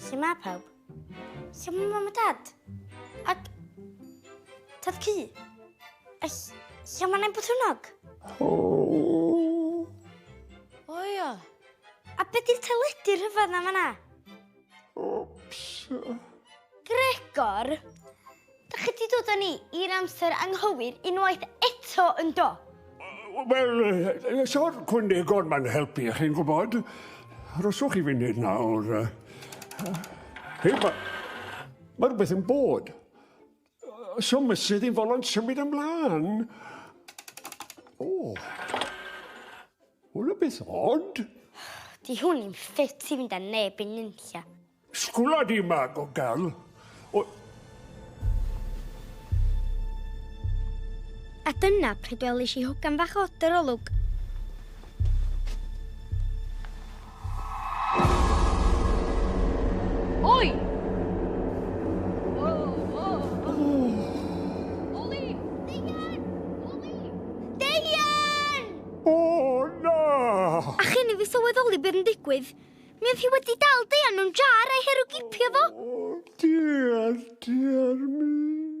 Sut mae pawb? Sut mae mam a dad? Ac... Tad Cu? A lle mae Nain Botwnog? O ia. A beth di'r teledu rhyfedd na fanna? Ops. Gregor, Dach chi 'di dod â ni i'r amser anghywir unwaith eto, yndo? Wel, so'r cwndegod ma'n helpu, chi'n gwybod. Rhoswch i funud nawr. Hei, ma, ma rhywbeth yn bod. So mysydd i'n folo'n symud ymlaen. O. Hwna beth odd. Di hwn i'n ffit i fynd â neb i nunlla. Sgwla di mag o gal. O... A dyna pryd welis i hogan fach o dy rolwg. sylweddoli beth yn digwydd. Mae hi wedi dal deian mewn jar a'i herwgipio fo. Diar, diar mi.